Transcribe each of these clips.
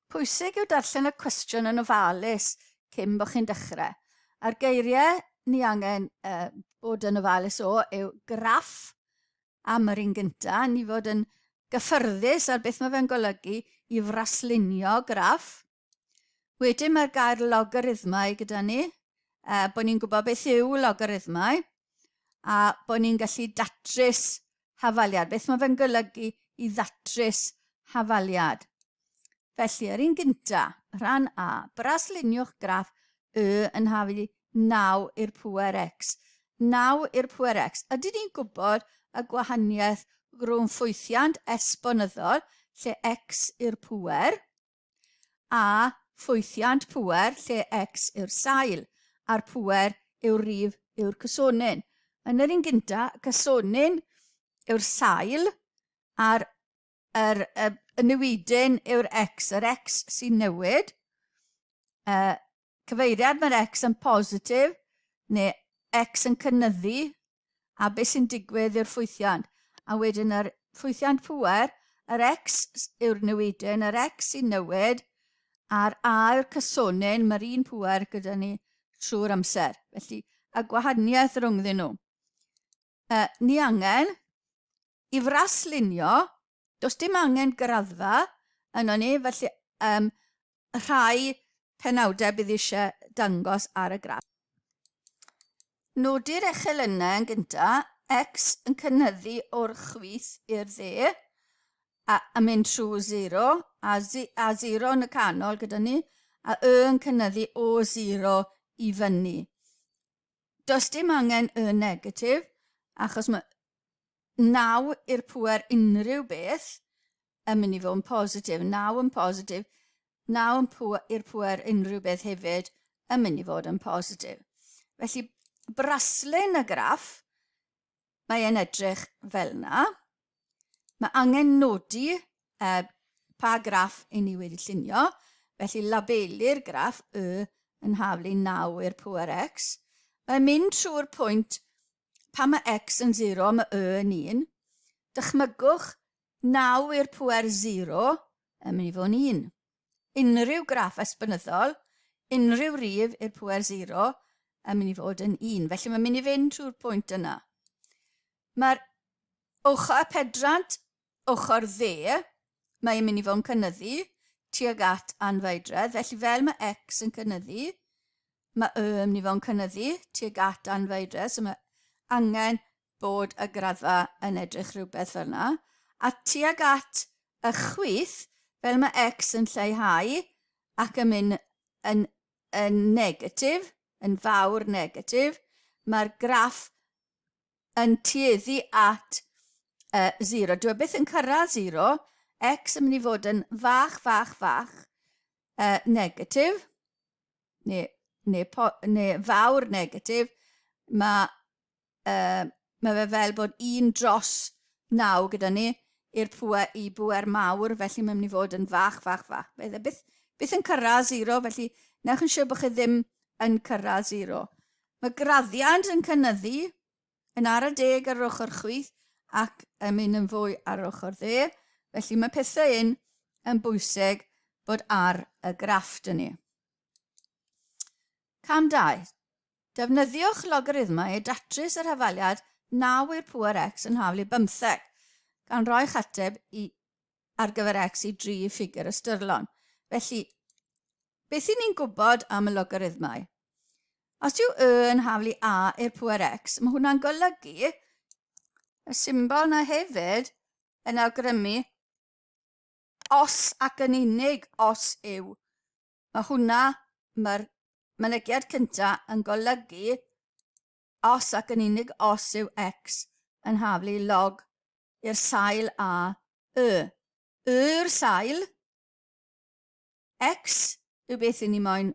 Pwysig yw darllen y cwestiwn yn ofalus cyn bod chi'n dechrau. A'r geiriau ni angen uh, bod yn ofalus o yw graff am yr un gyntaf, ni fod yn gyffyrddus ar beth mae fe'n golygu i fraslunio graff, Wedyn mae'r gair logarithmau gyda ni, uh, bod ni'n gwybod beth yw logarithmau a bod ni'n gallu datrys hafaliad. Beth mae fe'n golygu i ddatrys hafaliad? Felly, yr un gynta, rhan A, brasluniwch graff Y yn hafu 9 i'r pwer X. 9 i'r pwer X. Ydy ni'n gwybod y gwahaniaeth rhwng ffwythiant esbonyddol, lle X i'r pwer, a ffwythiant pŵer lle X yw'r sail, a'r pŵer yw'r rif yw'r cysonyn. Yn yr un gynta, y cysonyn yw'r sail, a'r yr, y, y newidyn yw'r X, yr X sy'n newid, y, Cyfeiriad, Mae'r X yn positif, neu X yn cynyddu, a beth sy'n digwydd yw'r ffwythiant. A wedyn yr ffwythiant pŵer, yr X yw'r newidyn, yr X sy'n newid, a'r A yw'r cysonyn, mae'r un pŵer gyda ni trwy'r amser. Felly, y gwahaniaeth rhwngddyn nhw. Uh, ni angen I fraslunio, does dim angen graddfa yno ni, felly um, rhai penawdau bydd eisiau dangos ar y graff. Nodi'r echelynnau yn gyntaf, x yn cynyddu o'r chwith i'r dde, a, a mynd trwy 0, a, zi, a 0 yn y canol gyda ni, a y yn cynyddu o 0 i fyny. does dim angen y negatif, achos mae naw i'r pwer unrhyw beth yn mynd i fod yn positif, naw yn positif, naw yn pwer, i'r pwer unrhyw beth hefyd yn mynd i fod yn positif. Felly, braslun y graff mae e'n edrych fel 'na. Mae angen nodi e, pa graff i ni wedi llunio, felly labelu'r graff Y yn haflu 9 i'r pŵer X. Mae'n mynd trwy'r pwynt pan mae X yn 0 mae Y yn 1. Dychmygwch 9 i'r pŵer 0 yn mynd i fod yn 1. unrhyw graff esbynyddol, unrhyw rif i'r pwer 0 yn mynd i fod yn 1. Felly mae'n mynd i fynd trwy'r pwynt yna. Mae'r ochr y pedrant, ochr dde, mae'n mynd i fod yn cynnyddu tuag at anfaedredd. Felly fel mae x yn cynnyddu, mae y yn mynd i fod yn cynnyddu tuag at anfaedredd. So mae angen bod y graddfa yn edrych rhywbeth fel yna, a tuag at y chwith, fel mae X yn lleihau ac yn mynd yn, yn negatif, yn fawr negatif, mae'r graff yn tueddu at uh, zero. Dwi e byth yn cyrraedd zero, X yn mynd i fod yn fach, fach, fach, uh, negatif, neu, neu, neu fawr negatif, mae uh, mae fe fel bod un dros naw gyda ni i'r pŵer, i bŵer mawr, felly mae'n mynd i fod yn fach, fach, fach. Fe dde, byth, byth yn cyrraedd zero, felly newch yn siŵr bod chi ddim yn cyrraedd zero. Mae graddiant yn cynnyddu yn ar y deg ar yr ochr chwith ac yn mynd yn fwy ar yr ochr dde, felly mae pethau un yn bwysig bod ar y graff dyn ni. Cam 2. Defnyddiwch logarithmau i datrys yr hafaliad 9 i'r pŵer x yn hafal i bymtheg, gan roi'ch ateb i ar gyfer x i dri i ffigur ystyrlon. Felly, beth i ni'n gwybod am y logarithmau? Os yw y yn hafal i a i'r pŵer x, mae hwnna'n golygu y symbol na hefyd yn awgrymu os ac yn unig os yw Mae hwnna, mae'r mynegiad cynta yn golygu os ac yn unig os yw X yn haflu log i'r sail a Y. Yw'r sail X yw beth i ni moyn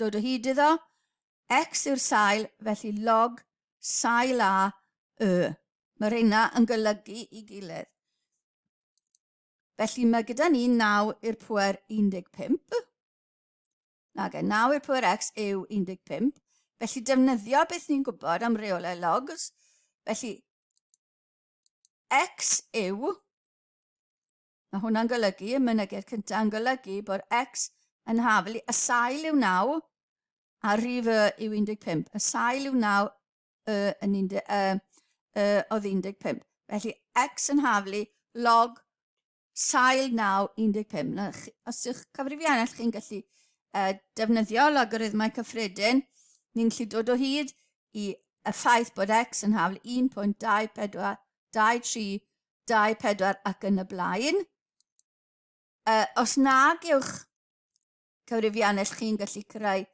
dod o hyd iddo, X yw'r sail felly log sail a Y. Mae rheina yn golygu i gilydd. Felly mae gyda ni 9 i'r pwer 15. Nag e, 9 i'r pwer x yw 15. Felly defnyddio beth ni'n gwybod am reolau logs. Felly x yw, mae hwnna'n golygu, y mynegedd cyntaf yn golygu bod x yn haflu y sail yw 9 a rif y yw 15. Y sail yw 9 y yn 10 y y oedd 15. Felly x yn haflu log sail 9 15. Na, os yw'ch cyfrifiannell chi'n gallu uh, defnyddio logarithmau cyffredin, ni'n gallu dod o hyd i y ffaith bod x yn hafl 1.24, 23, 24 ac yn y blaen. Uh, os nag yw'ch cyfrifiannell chi'n gallu cyrraedd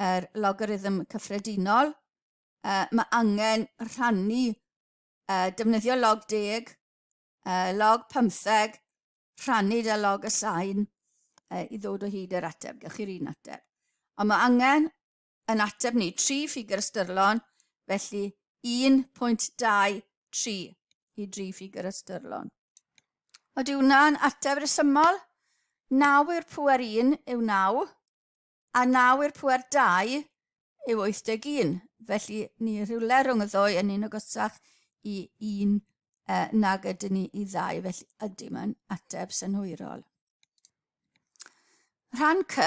yr logarithm cyffredinol. Uh, mae angen rhannu, uh, defnyddio log deg, uh, log pymtheg, rhannu da log y sain uh, i ddod o hyd yr ateb. Gewch chi'r un ateb. Ond mae angen yn ateb ni, tri ffigur ystyrlon, felly 1.23 i dri ffigur ystyrlon. Ydy hwnna'n ateb resymol? 9 i'r pwer 1 yw 9, a 9 i'r pwer 2 yw 81. Felly, ni rhywle rhwng y ddwy yn un ogysach i un e, nag ydyn ni i ddau, felly ydy mae'n ateb synhwyrol. Rhan C,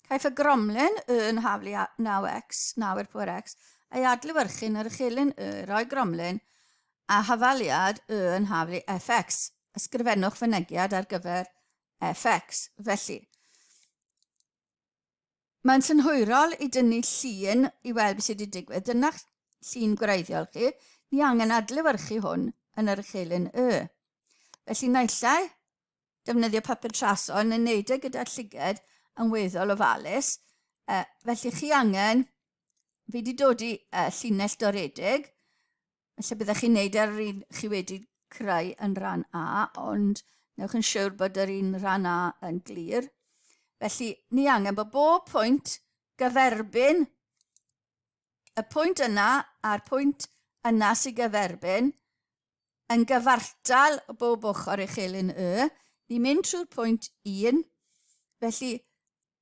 caiff y gromlin y yn haflu 9x, 9 i'r pwer x, ei adlewyrchu'n yr uchelyn y roi gromlin a hafaliad y yn haflu fx. Ysgrifennwch fynegiad ar gyfer fx. Felly, mae'n synhwyrol i dynnu llun i weld beth sydd wedi digwydd. Dyna'ch llun gwreiddiol chi. Ni angen adlewyrchu hwn yn yr uchelyn y. Felly, naillai defnyddio papur traso yn wneud e gyda llyged yn weddol ofalus. E, felly chi angen, fi wedi dod i e, llinell doredig, felly byddech chi'n neud ar yr un chi wedi creu yn rhan A, ond newch yn siwr bod yr un rhan A yn glir. Felly, ni angen bod bob pwynt gyferbyn y pwynt yna a'r pwynt yna sy'n gyferbyn yn gyfartal o bob ochr i chelyn Y. Ni'n mynd trwy'r pwynt 1. Felly,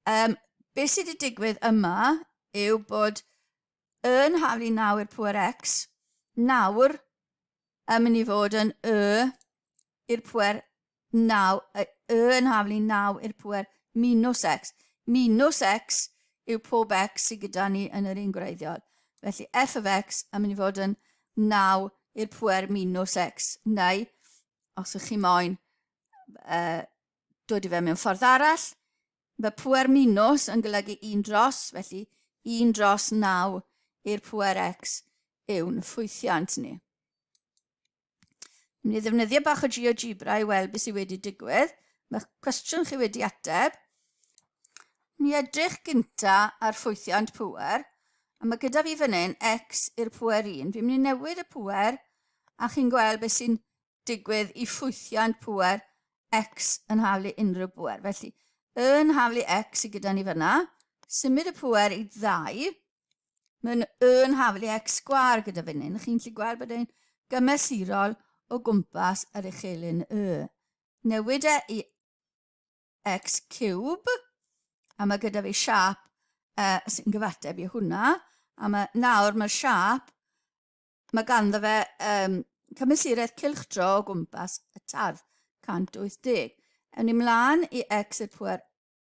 um, beth sydd wedi digwydd yma yw bod yn haflu naw i'r pwer x, nawr yn mynd i fod yn y i'r pwer naw, y, y yn haflu naw i'r pwer minus x. Minus x yw pob x sydd gyda ni yn yr un gwreiddiol. Felly f of x yn mynd i fod yn 9 i'r pwer minus x, neu os ych chi moyn uh, dod i fe mewn ffordd arall, mae pwer minus yn golygu 1 dros, felly 1 dros 9 i'r pwer x yw'n ffwythiant ni. Yn mynd i ddefnyddio bach o GeoGebra i weld beth sydd wedi digwydd. Mae'ch cwestiwn chi wedi ateb. Ni edrych gynta ar ffwythiant pwer, a mae gyda fi fan hyn x i'r pwer 1. Fi'n mynd i newid y pwer, a chi'n gweld beth sy'n digwydd i ffwythiant pwer x yn haflu unrhyw bwer. Felly, yn haflu x i gyda ni fyna, symud y pwer i ddau, Mae'n yn haflu X sgwar gyda fynnyn. Chi'n lli gweld bod e'n gymesurol o gwmpas yr uchelyn Y. Newid e i X cube, a mae gyda fi siap uh, sy'n gyfateb i hwnna, a mae, nawr mae'r siap, mae ganddo fe um, cymysuraeth cilchdro o gwmpas y tardd, 180. Ewn ni mlaen i x y pwer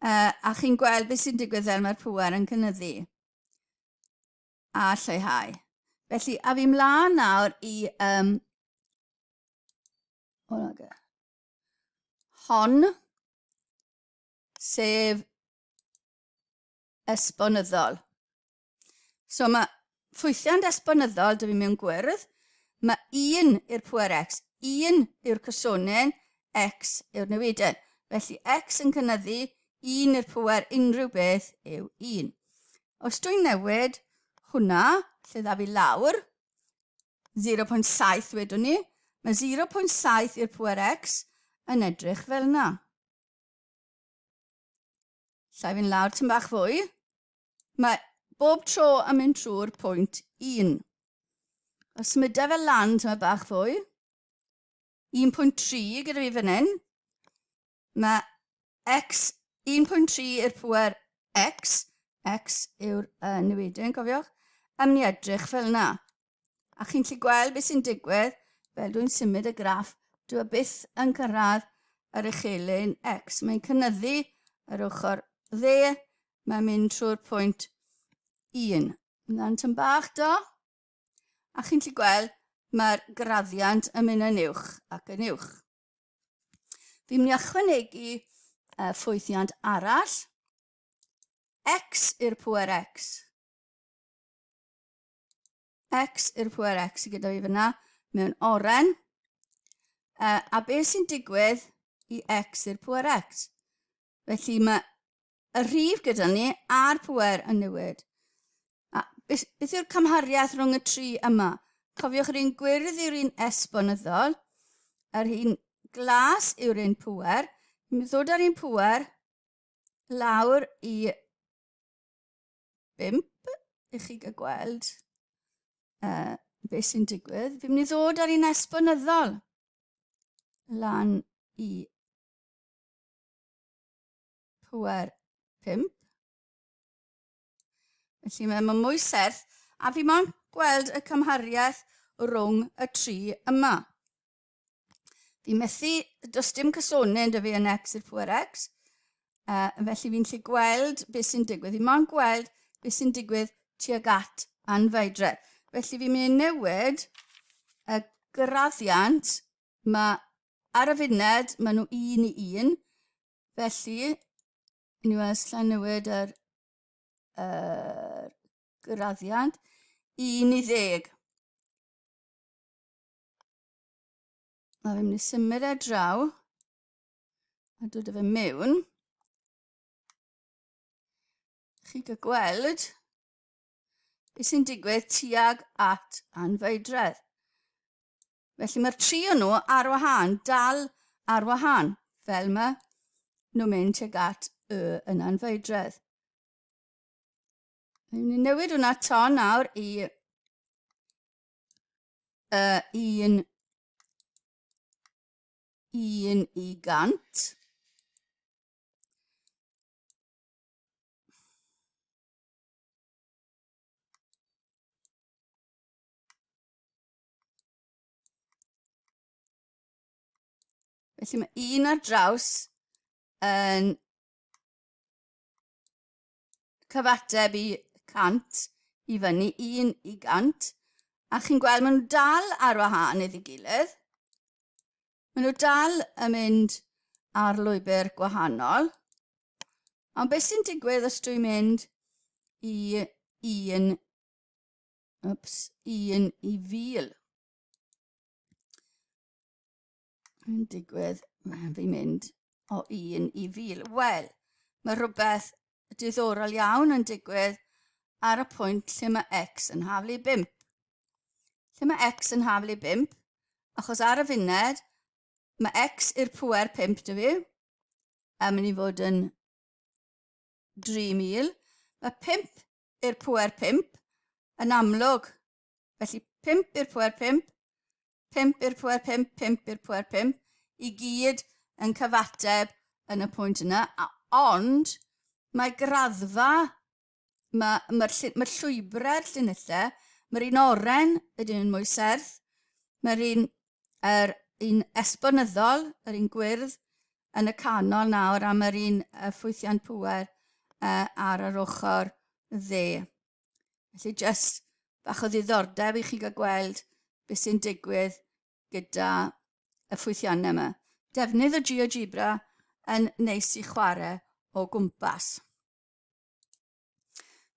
Uh, a chi'n gweld beth sy'n digwydd fel mae'r pŵer yn cynnyddu a lleihau. Felly, a fi mlaen nawr i um, hon, sef esbonyddol. So mae ffwythiant esbonyddol dwi mewn gwyrdd, mae 1 i'r pwer x, 1 yw'r cysonyn, x yw'r newidyn. Felly x yn cynyddu 1 i'r pwer unrhyw beth yw 1. Os dwi'n newid hwnna, lle dda fi lawr, 0.7 wedwn ni, mae 0.7 i'r pwer x yn edrych fel yna. Llai fi'n lawr tyn bach fwy. Mae bob tro yn mynd trwy'r pwynt 1. Os symudau fel lan tyn bach bach fwy, 1.3 gyda fi fan hyn, mae x 1.3 i'r pwer x, x yw'r uh, newidyn, cofiwch, am ni edrych fel yna. A chi'n gallu gweld beth sy'n digwydd, fel dwi'n symud y graff, dwi'n byth yn cyrraedd yr uchelyn X. Mae'n cynnyddu yr ochr dde, mae'n mynd trwy'r pwynt 1. Mae'n tyn bach do, a chi'n gallu gweld mae'r graddiant yn mynd yn uwch ac yn uwch. Fi'n mynd i ychwanegu uh, ffwythiant arall, x i'r pwer x. X i'r pwer X sydd gyda fi fyna mewn oren. Uh, a beth sy'n digwydd i X i'r pwer X? Felly mae y rhif gyda ni a'r pwer yn newid. A beth, beth yw'r cymhariaeth rhwng y tri yma? Cofiwch yr un gwyrdd yw'r un esbonyddol, yr un glas yw'r un pwer. Mi ddod â'r un pwer lawr i bump i chi gael gweld uh, beth sy'n digwydd. Fi'n mynd i ddod ar un esbonyddol lan i pwer pump. Felly mae yma mwy serth a fi mo'n gweld y cymhariaeth rhwng y tri yma. Fi'n methu, does dim cysonau yn dyfu yn X i'r pwer X, uh, felly fi'n lli gweld beth sy'n digwydd. Fi'n mo'n gweld beth sy'n digwydd tuag at anfaedre. Felly fi'n mynd i newid y graddiant ma, ar y funed, maen nhw un i un. Felly, yn ni weld lla'n newid yr, yr graddiant, un i ddeg. A fi'n mynd i symud e draw a dod â fe mewn. Chi gael gweld beth sy'n digwydd tuag at anfeidredd. Felly mae'r tri o nhw ar wahân, dal ar wahân, fel mae nhw'n mynd tuag at y yn anfeidredd. Ni'n newid hwnna ton nawr i uh, un, un i gant. Felly mae un ar draws yn cyfateb i 100 i fyny 1 i 100 a chi'n gweld maen nhw dal ar wahân iddi gilydd. Maen nhw dal yn mynd ar lwybr gwahanol. Ond beth sy'n digwydd os dwi'n mynd i un, ups, un i fil? yn digwydd, mae'n fi mynd o un i fil. Wel, mae rhywbeth diddorol iawn yn digwydd ar y pwynt lle mae x yn haflu 5. Lle mae x yn haflu 5, achos ar y funed, mae x i'r pwer 5 dwi fi, a mynd i fod yn 3,000. Mae 5 i'r pwer 5 yn amlwg Felly 5 i'r pwer 5, 5 i'r pwer 5, 5 i'r pwer 5, i gyd yn cyfateb yn y pwynt yna, a ond mae graddfa, mae'r ma, ma, ma llwybrau'r llinellau, mae'r un oren, ydyn nhw'n mwy serth, mae'r un, er, un esbonyddol, yr un gwyrdd, yn y canol nawr a mae'r un ffwythiant pwer ar yr ochr dde. Felly jyst bach o ddiddordeb i chi gael gweld beth sy'n digwydd gyda y ffwythiannau yma. Defnydd o GeoGebra yn neis i chwarae o gwmpas.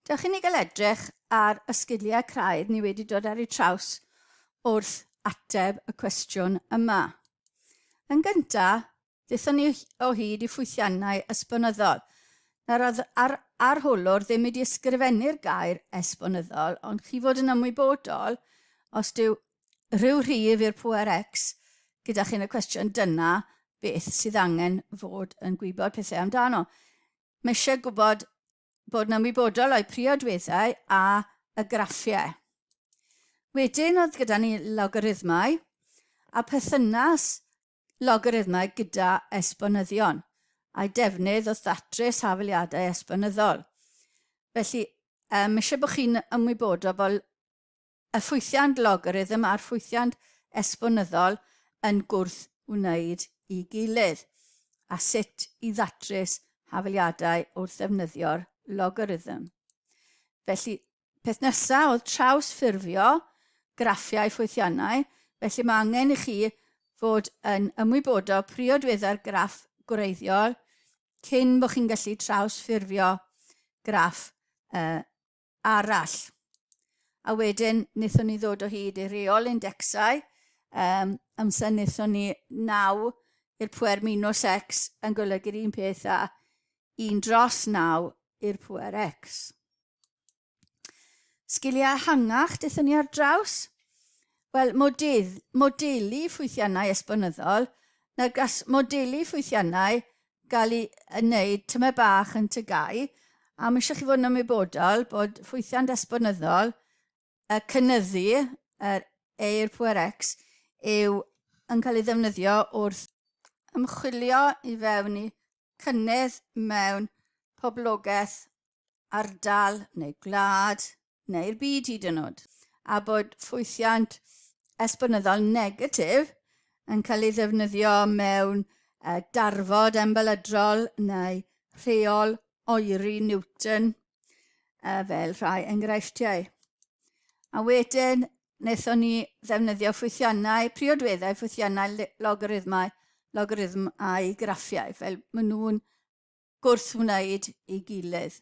Dewch i ni gael edrych ar y sgiliau craidd ni wedi dod ar eu traws wrth ateb y cwestiwn yma. Yn gyntaf, Daethon ni o hyd i ffwythiannau esbonyddol. Nawr, oedd yr arholwr ddim wedi ysgrifennu'r gair esbonyddol, ond chi fod yn ymwybodol, os dyw rhyw rhif i'r pŵer X gyda chi yn y cwestiwn, dyna beth sydd angen fod yn gwybod pethau amdano. Mae eisiau gwybod bod yn ymwybodol o'i priodweddau a y graffiau. Wedyn oedd gyda ni logarithmau a perthynas logarithmau gyda esbonyddion, a'u defnydd wrth ddatrys hafaliadau esbonyddol. Felly, um, eisiau bod chi'n ymwybodol bod y ffwythiant logarithm a'r ffwythiant esbonyddol yn gwrth wneud i gilydd, a sut i ddatrys hafaliadau wrth ddefnyddio'r logarithm. Felly, Peth nesaf oedd trawsffurfio graffiau ffwythiannau, felly mae angen i chi fod yn ymwybodol priodweddau'r graff gwreiddiol cyn bod chi'n gallu trawsffurfio graff uh, arall. A wedyn, wnaethon ni ddod o hyd i reol indecsau, um, amser wnaethon ni naw i'r pwer minus x yn golygu'r un peth a 1 dros 9 i'r pwer x. Sgiliau ehangach dethon ni ar draws? Wel, model, modelu ffwythiannau esbonyddol, na gas modelu ffwythiannau gael ei wneud tyma bach yn tygau, a mae eisiau chi fod yn ymwybodol bod ffwythiant esbonyddol y cynyddu, yr eir pwer X, yw yn cael ei ddefnyddio wrth ymchwilio i fewn i cynnydd mewn poblogaeth ardal neu gwlad neu'r byd hyd yn oed, a bod ffwythiant esbonyddol negatif yn cael ei ddefnyddio mewn darfod embelydrol neu rheol oeri Newton fel rhai enghreifftiau. A wedyn, wnaethon ni ddefnyddio ffwythiannau, priodweddau ffwythiannau logarithmau, logarithm a'i graffiau, fel maen nhw'n gwrth wneud i gilydd.